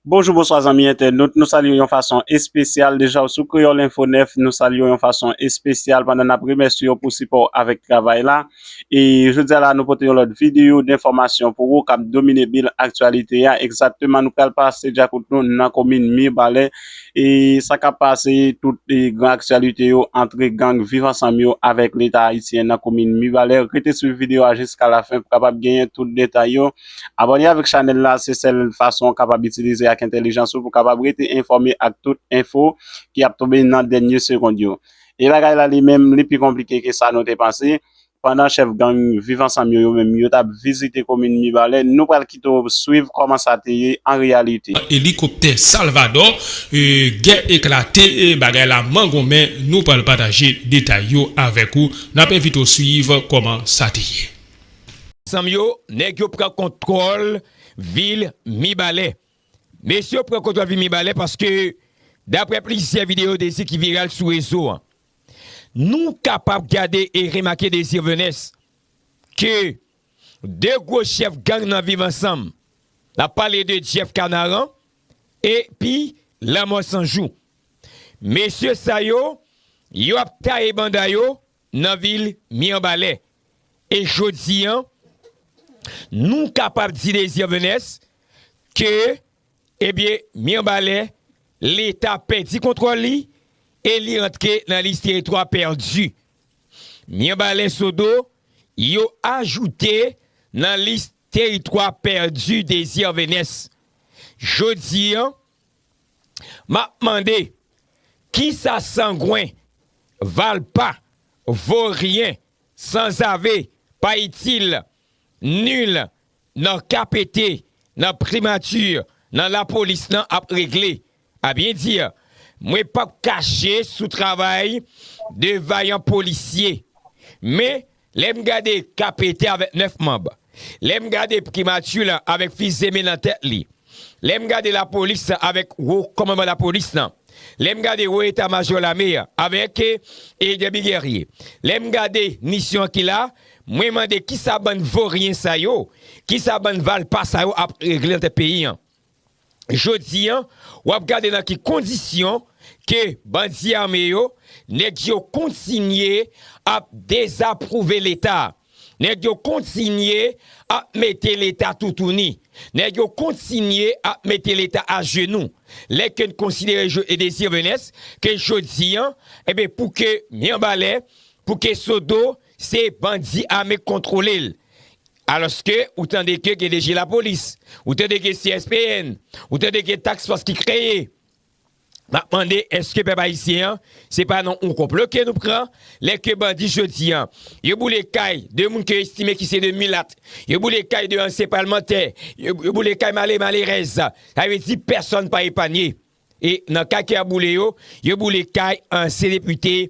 Bonjou bonswa zanmi entènot, nou salye w yon fason espesyal, deja w sou Kreyòl Enfo 9, nou salye w yon fason espesyal pandan n ap remèsye w pou sipò w avèk travay la. E jodi a la a nou pote yon lòt videyo denfòmasyon pou ou k ap domine bil aktyalite a, egzakteman nou pral pase dyakout nou nan komin Mibalè e sa k ap pase tout gran aktyalite yo antre gang Viv Ansanm yo avèk Leta Ayisyen nan komin Mibalè. Rete swiv videyo a jiskalafen pou kapab genyen tout detay yo. Abòne avèk chanèl la se sèl fason ou kapab itilize ak entèlijans ou pou kapab rete enfòme ak tout enfo ki ap tonbe nan dènye segond yo. E bagay la li menm li pi konplike ke sa nou te panse, pandan chèf gang Viv Ansanm yo yo menm yo tap vizite komin Mibalè, nou pral kite w swiv kòman sa te ye an reyalite. Elikoptè Salvadò, gè eklate, bagay la mangonmen, nou pral pataje detay yo avèk ou, nap envite w swiv kòman sa te ye. Zanm yo, nèg yo pran kontwòl vil Mibalè. Mesye yo pran kontwòl vil Mibalè paske daprè plizyè videyo Désir ki viral sou rezo an. Nou kapab gade e remake Désir Venès ke 2 gwo chèf gang nan viv ansanm. N ap pale de Jeff Kanaran epi Lanmò Sanjou. Mesye sa yo, yo ap taye banda yo nan vil Mirbalè e jodi an nou kapab di Désir Venès ke ebyen Mirbalè leta pèdi kontwòl li e li antre nan lis teritwa pèdi. Mirbalè Sodo yo ajoute nan lis teritwa pèdi Désir Venès. Jodi an Map mande kisa sangwen, valpa, voryen, sanzave, pa itil, nul nan KPT, nan primati, nan lapolis nan ap regle? A byen di, mwen pap kache sou travay 2 vayan polisye. Men, Lè m gade Kapete avèk nèf manb, lè m gade pkimati lan avèk fizeme nan tèt li, lè m gade lapolis lan avèk wo kòmanman lapolis lan, lè m gade wo eta majò lame an avèk Edemi Gèrye, lè m gade misyon ki la, mwen mande kisa bann voryen sa yo, kisa bann valpa sa yo ap regle nan tèt peyi an? Jodi an, w ap gade nan ki kondisyon ke bandi ame yo, nèg yo kontinye ap dezapwouve Leta. Nèg yo kontinye ap mete Leta toutouni. Nèg yo kontinye ap mete Leta ajenou. Lè ke n konsidere Joe Désir Venès, ke jodi an, enben pou ke Mirebalais, pou ke Sodo, Se bandi ame k kontwole l. Alòske ou tande ke gen DG lapolis, ou tande gen CSPN, ou tande gen task fòs ki kreye. M ap mande eske pèp ayisyen an se pa nan yon konplo ke nou pran lè ke bandi jodi an yo boule kay 2 moun ke yo estime ki se 2 milat, yo boule kay 2 ansyen palmantè, yo boule kay malere malerèz. Sa vle di pèsòn pa epanye. E nan kay ke y ap boule yo, yo boule kay ansyen depite.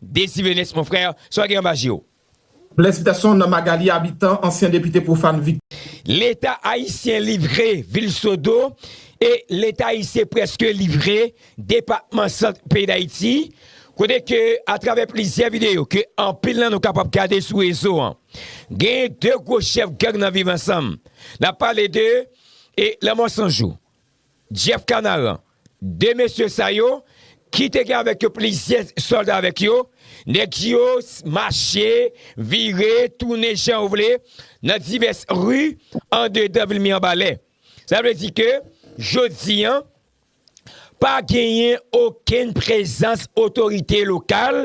Desi Benes mon frère, sa w gen anba je w? Blesitasyon nan Magalie Habitant, ansyen depite pou Fann Vic. Leta ayisyen livre vil Sodo e Leta ayisyen prèske livre depatman Sant peyi Dayiti, kote ke atravè plizyè videyo ke anpil nan nou kapab gade sou rezo an, genyen 2 gwo chèf gang nan viv ansanm. Nap pale de Lanmò Sanjou, Jeff Canaran, De mesye sa yo, ki te gen avèk yo plizyè sòlda avèk yo, nèg yo mache, vire, tounen jan yo vle nan divès ri andedan vil Mirebalais. Sa vle di ke jodi an, pa genyen okenn prezans otorite lokal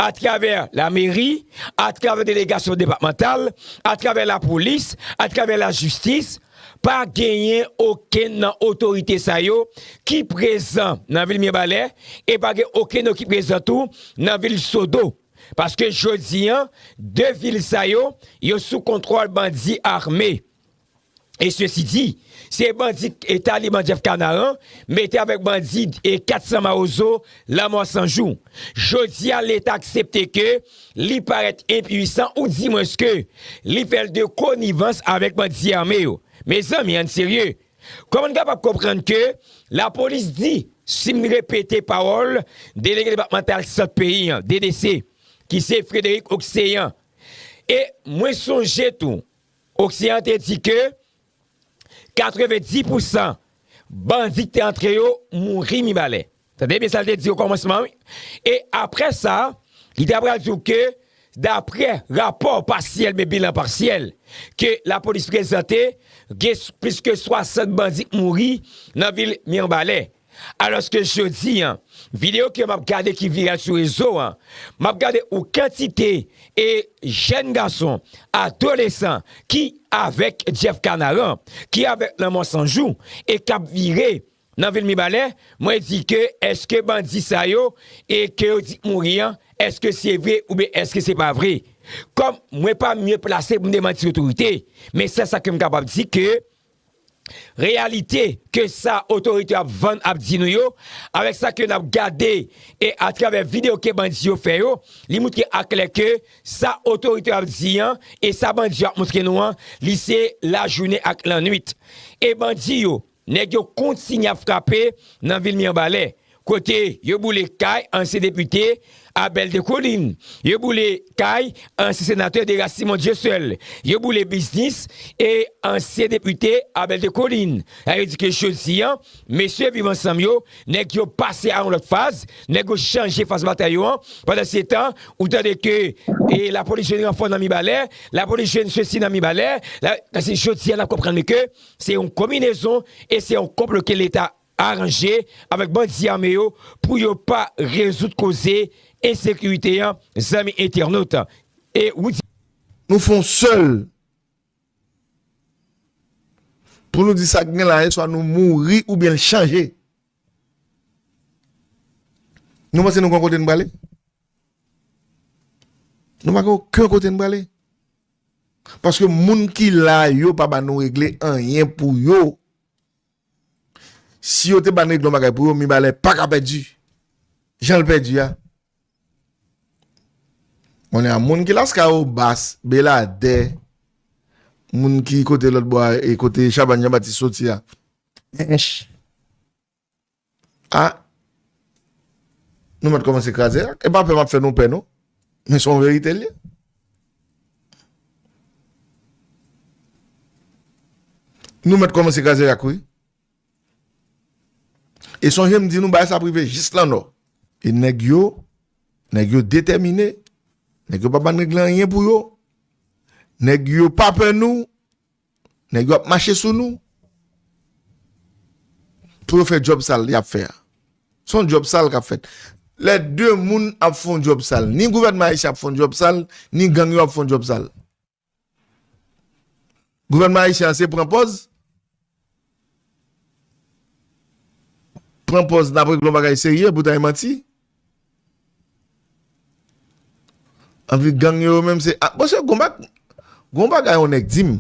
atravè lameri, atravè delegasyon depatmantal, atravè lapolis, atravè lajistis, Pa genyen okenn nan otorite sa yo ki prezan nan vil Mirebalè e pa gen okenn yo ki prezan tou nan vil Sodo. Paske jodi an, 2 vil sa yo, yo sou kontwòl bandi ame. E sesi di, se bandi Taliban Jeff Kanaran mete avèk bandi 400 Mawozo Lanmò San Jou. Jodi a, Leta aksepte ke Li parèt enpuisan ou di mwens ke li fè l de konivans avèk bandi ame yo. Mezanmi ann serye. Kòman n kapab konprann ke lapolis di, si m repete pawòl Delege Depatmantal Sant peyi an, DDC, ki se Frederic Occean, e mwen sonje tou Occean te di ke 90 pou san bandi ki te antre yo mouri Mibalè. Tande byen sa l te di okòmansman an wi. E apre sa, li ta pral di w ke dapre rapò pasyèl men bilan pasyèl ke lapolis prezante, gen plis ke 60 bandi ki mouri nan vil Mirbalè. Alòske jodi an, videyo ke map gade ki viral sou rezo an, map gade ou kantite e jèn gason, adolesan ki avèk Jeff Kanaran, ki avèk Lanmò Sanjou e kap vire nan vil Mibalè, mwen di ke eske bandi sa yo e ke yo di k mouri an, eske se vre oubyen eske se pa vre? Kòm mwen pa mye plase pou m demanti otorite, men sèl sa ke m kapab di ke reyalite ke sa otorite yo ap vann ap di nou yo, avèk sa ke nap gade e atravè video ke bandi yo fè yo, li moutre a klè ke sa otorite yo ap di an e sa bandi yo ap moutre nou an, li se lajounen ak lannwit. E bandi yo, nèg yo kontinye ap frape nan vil Mirbalè. Kote yo boule kay ansyen depite Abel Descollines, yo boule kay ansyen senatè Deras Simon Dieuseul, yo boule biznis e ansyen depite Abel Descollines. La yo di ke jodi an, mesye Viv Ansanm yo, nèg yo pase a yon lòt faz, nèg yo chanje faz batay yo an. Pandansetan, ou tande ke lapolis jwenn ranfò nan Mibalè, lapolis jwenn sesi nan Mibalè. Jodi a n ap konprann ke se yon konminezon e se yon konplo ke leta aranje avèk bandi ame yo pou yo pa rezoud koze ensekirite an zanmi entènot e. Nou fon sèl pou nou di sak gen la e swa nou mouri ou byen l chanje nou panse nou gen yon kote nou prale nou pa gen oken kote nou prale paske moun ki la yo pa ba nou regle anyen pou yo Si yo te ban Regle yon bagay pou yo, Mibalè pa ka pèdi jan l pèdi a. Konnen a moun ki Laskao, Bas, Beladè, moun ki kote lòtbò a e kote Chabanne Janbatis soti a, Ench. Ah nou mèt kòmanse kraze ak. E pa pè map fè nou pè non men son verite l ye. Nou mèt kòmanse kraze rak wi. E sonje m di nou bagay sa ap rive jis lan nò. E nèg yo, nèg yo detèmine, nèg yo pa ban règle anyen pou yo, nèg yo pa pè nou, Nèg yo ap mache sou nou pou yo fè djòb sal y ap fè a. Se yon djòb sal k ap fèt. Lè de moun ap fè yon djòb sal, ni gouvènman ayisyen ap fè yon djòb sal, ni gang yo ap fè yon djòb sal. Gouvènman ayisyen an se pran pòz, pran pòz n ap regle yon bagay serye poutan e manti. Anvi gang yo menm se a bon se gon bak gon bagay yon nèg dim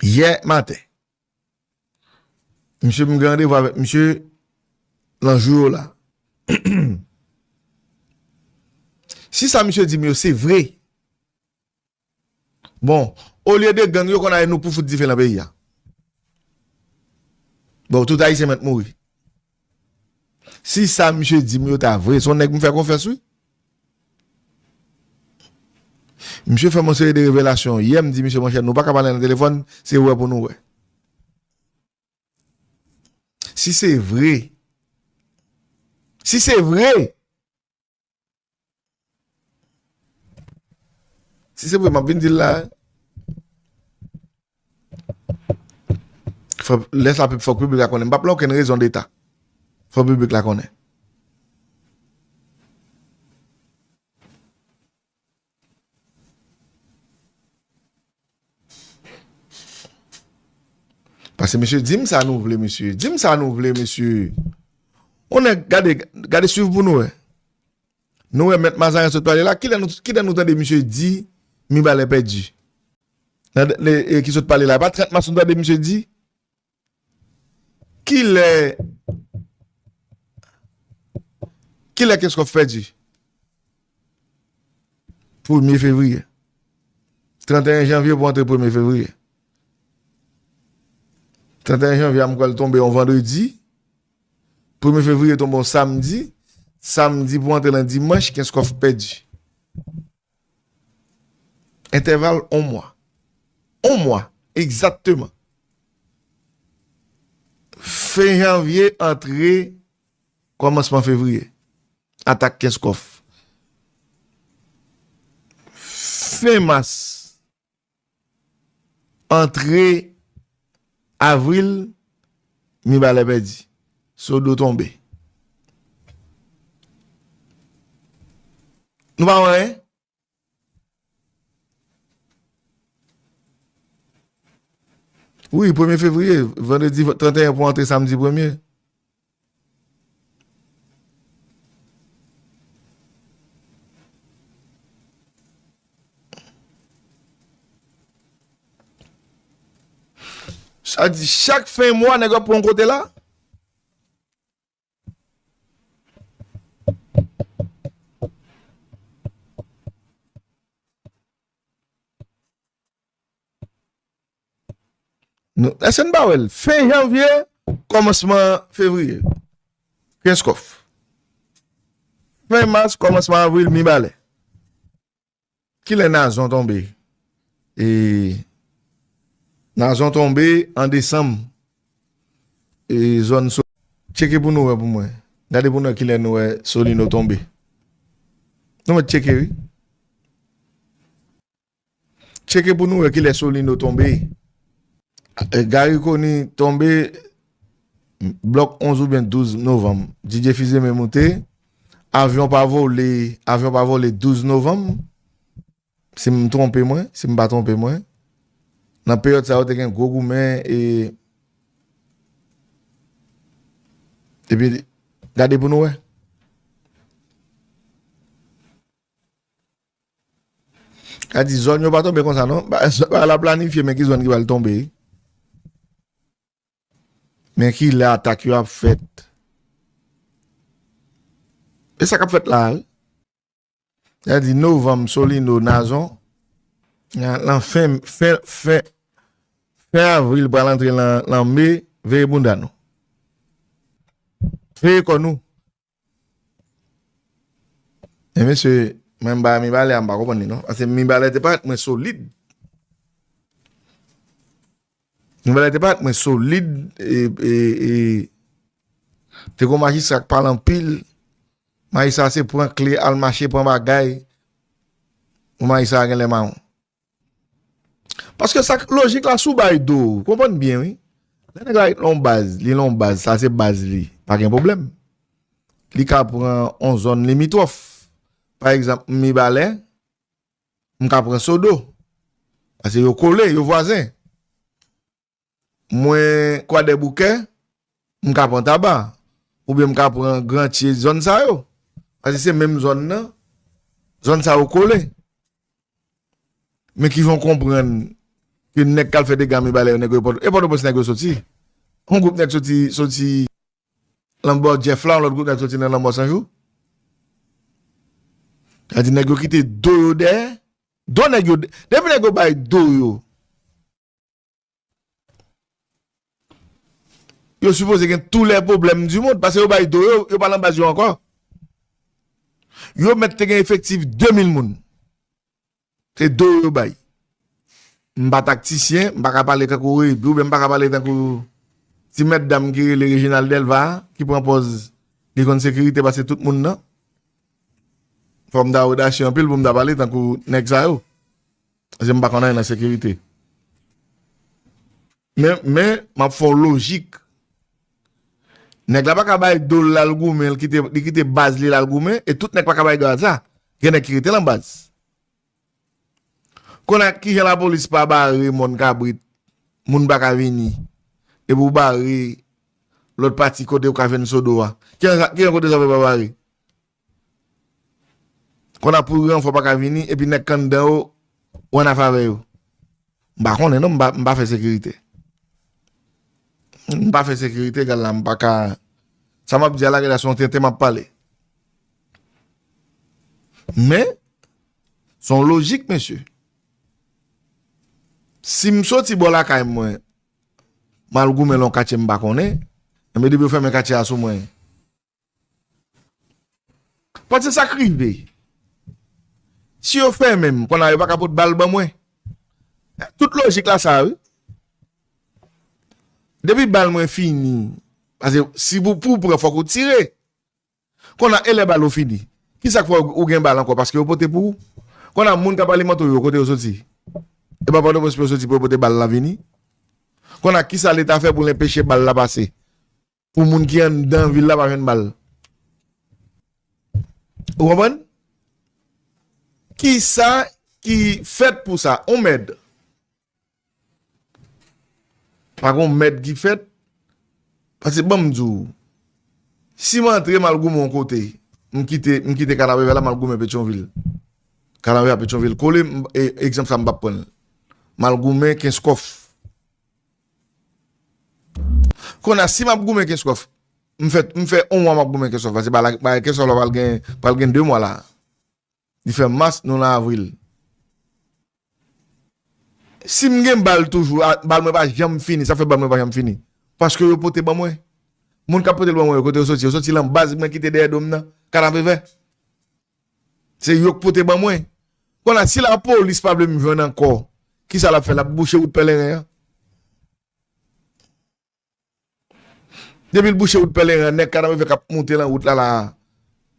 yè maten misye m gen randevou avèk misye lan jou yo la si sa misye dim yo se vre Bon olye de gang yo konn ale nou pou fout dife nan peyi a bon tout ayisyen mèt mouri si sa misye di m yo ta vre son nèg m fè konfyans wi misye fè m yon seri de revelasyon yè m di misye monchè nou pa ka pale nan telefòn se wè pou nou wè si se vre si se vre Si se vre map vin dil la. Lè sa pep fok publik la konnen. Mpap la oken rezon deta. Fok publik la konnen. Pase mesye dim sa nou vle mesye Dim sa nou vle mesye Onè gade gade swiv pou nou e Nou e met mazaren sot pale la Kilè nou tande misye di Mibalè pèdi Nan de e ki sot pale la E pa 30 mas nou tande misye di Kilè Kilè Kenskòf pèdi? Premye fevriye. 31 janvye pou antre premye fevriye. 31 janvye a m kwè l tonbe yon vandredi. Premye fevriye tonbe yon samdi. Samdi pou antre nan dimanch Kenskòf pèdi. Entèval on mwa. On mwa, egzatteman. Fen janvye, antre kòmansman fevriye. Atak Kenskòf. Fen mas. Antre avril, Mibalè pèdi, Sodo tonbe. Nou pa wè anyen? Wi, premye fevriye, vandredi 31 pou antre samdi premye. Sa di chak fen mwa nèg ap pran yon kote la? Eske n pa wè l? Fen janvye, kòmansman fevriye, Kenskòf. Fen mas, kòmansman avril, Mibalè. Ki lè Nazon tonbe? E Nazon tonbe an desanm. E zòn sou. Tcheke pou nou wè pou mwen. Gade pou nou wè ki lè nou wè Solino tonbe. Nou mèt tcheke wi. Tcheke pou nou wè kilè Solino tonbe. Garry Conille tonbe blòk 11 oubyen 12 novanm. Didier Fils-Aimé moute. Avyon pa vole, avyon pa vole 12 novanm. Si m twonpe mwen, si m pa twonpe mwen. Nan peryòd sa yo te gen gwo goumen e epi gade pou nou wè. Ka di zòn yo pa tonbe konsa non. Bagay la planifye men ki zòn ki pral tonbe. Men ki lè atak yo ap fèt. E sa kap fèt la a wi. Ka di novanm solino nazon. Lan fen fen fen. Fen avril pral antre lan me veye bounda nou. Veye kò nou. E mesye, mwen m ba Mibalè a m pa konprann li non. Pase Mibalè te parèt mwen solid. Mibalè te parèt mwen solid e e te gon majistra k pale anpil. Majistra se pran kle al mache pran bagay. Bon majistra a genlè maron. Paske sak lojik la sou bay do ou konprann byen wi lè nèg la ret lon baz li lon baz sa se baz li pa gen pwoblèm li ka pran on zòn limitròf pa egzanp m mibalè m ka pran sodo pase yo kole yo vwazen Mwen Kwadèboukè, m ka pran Taba, oubyen m ka pran Grantye, zòn sa yo. Paske se menm zòn nan, zòn sa yo kole. Men kijan w konprann ke nèg k al fè dega Mibalè yo nèg yo e Pòtoprens nèg yo soti? Yon gwoup nèg soti, soti lanbò Jèf la, yon lòt gwoup nèg soti nan lanmò Sanjou? Sa vle di nèg yo kite do yo dèyè? Do nèg yo, depi nèg yo bay do yo. Yo sipoze gen tou lè pwoblèm di moun, pase yo bay do yo, yo pa lan baz yo ankò. Yo mèt te gen efektif 2000 moun. Se do yo bay. M pa taktisyen, m pa ka pale tankou rey, m pa ka pale tankou ti mèt dam ki rele Reginald Delva, ki pran pòz li konn sekirite pase tout moun nan. Fòm ta odasyon anpil pou m ta pale tankou nèk sa yo. Paske m pa konn anyen nan sekirite. Men, men, m ap fè yon lojik. Nèg la pa ka bay do l al goumen, li kite baz li l al goumen, e tout nèg pa ka bay grad sa. Gen nèg ki rete nan baz. Kounye a, ki jan lapolis pa bare mòn kabrit, moun pa ka vini, epi ou bare lòt pati kote ou ka jwenn sodo a? Ki jan kote zafè pa bare? Kon ap pouri an fwa pa ka vini epi nèg kan dan yo ou an afavè yo. M pa konnen non m pa fè sekirite. M pa fè sekirite egal la m pa ka sa m ap di a la gen lè son tenten m ap pale. Men son lojik mesye. Si m soti bò lakay mwen m al goumen lon katye m pa konnen, enben depi yo fèmen katye a sou mwen. Pòt se sak rive si yo fèmenm konna yo paka pot bal ban mwen tout lojik la sa wi depi bal mwen fini pase si pou pou pran fòk ou tire konna elè bal ou fini kisak fè ou gen bal ankò paske yo pote pou ou konna moun kap alimante ou yo kote yo soti epa pòtoprens pou yo soti pou yo pote bal la vini konna kisa leta fè pou l enpeche bal la pase. pou moun ki anndan vil la pa jwenn bal. Ou konprann? Kisa ki fèt pou sa? On mèd. Pa gon mèd ki fèt. Pase banm di w. Si m antre m al goumen yon kote, m kite Kanapevè la m al goumen Petyonvil. Kanapevè ak Petyonvil kole, egzanp sa m pa pran l. M al goumen Kenskòf. Konnya si map goumen kenskof m fè on mwa map goumen kenskof la se pa la kenskof la pral gen 2 mwa la li fè mas nou lan avril sim gen bal toujou bal mwen pa janm fini sa fè bal mwen pa janm fini paske yo pote ban mwen moun kap pote l ban mwen yo kote yo soti yo soti lan baz mwen kite dèyè dom nan kanapevè. Se yok pote ban mwen. Bon la si la polis pa vle m jwenn ankò ki sa lap fè lap bouche wout pèleren an depi l bouche wout pèleren an nèg kanavè kap moute lan wout la la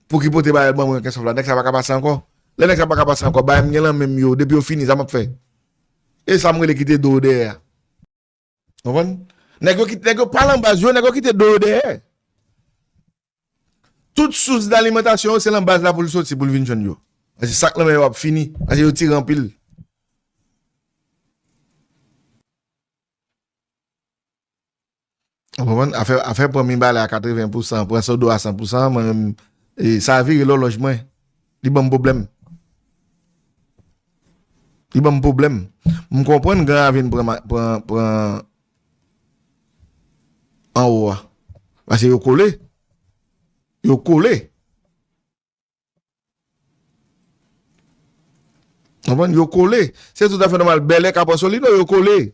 pou ki pote bagay ban mwen kensòf la nèg sa paka pase ankò lè nèg sa paka pase ankò bagay m gen lan menm yo depi yo fini sa map fè e sa m rele kite do dèyè a. Konprann? Nèg yo ki, nèg yo pa lan baz yo, nèg yo kite do yo dèyè. Tout sous dalimantasyon yo se lan baz la pou l soti, pou l vin jwenn yo. Paske sak lan men yo ap fini, paske yo tire anpil. Ou konprann? Afè, afè pran Minbale a 80 pou 100, pran Sodo a 100 pou 100, mwen menm, e, sa vire lòlòj mwen. Li banm pwoblèm. Li banm pwoblèm. M konprann Gran Ravin pran, pran, pran anwo a. Pase yo kole. Yo kole. Ou konprann? Yo kole. Se tout afè nòmal Bèlè, Kap Ansolino, yo kole.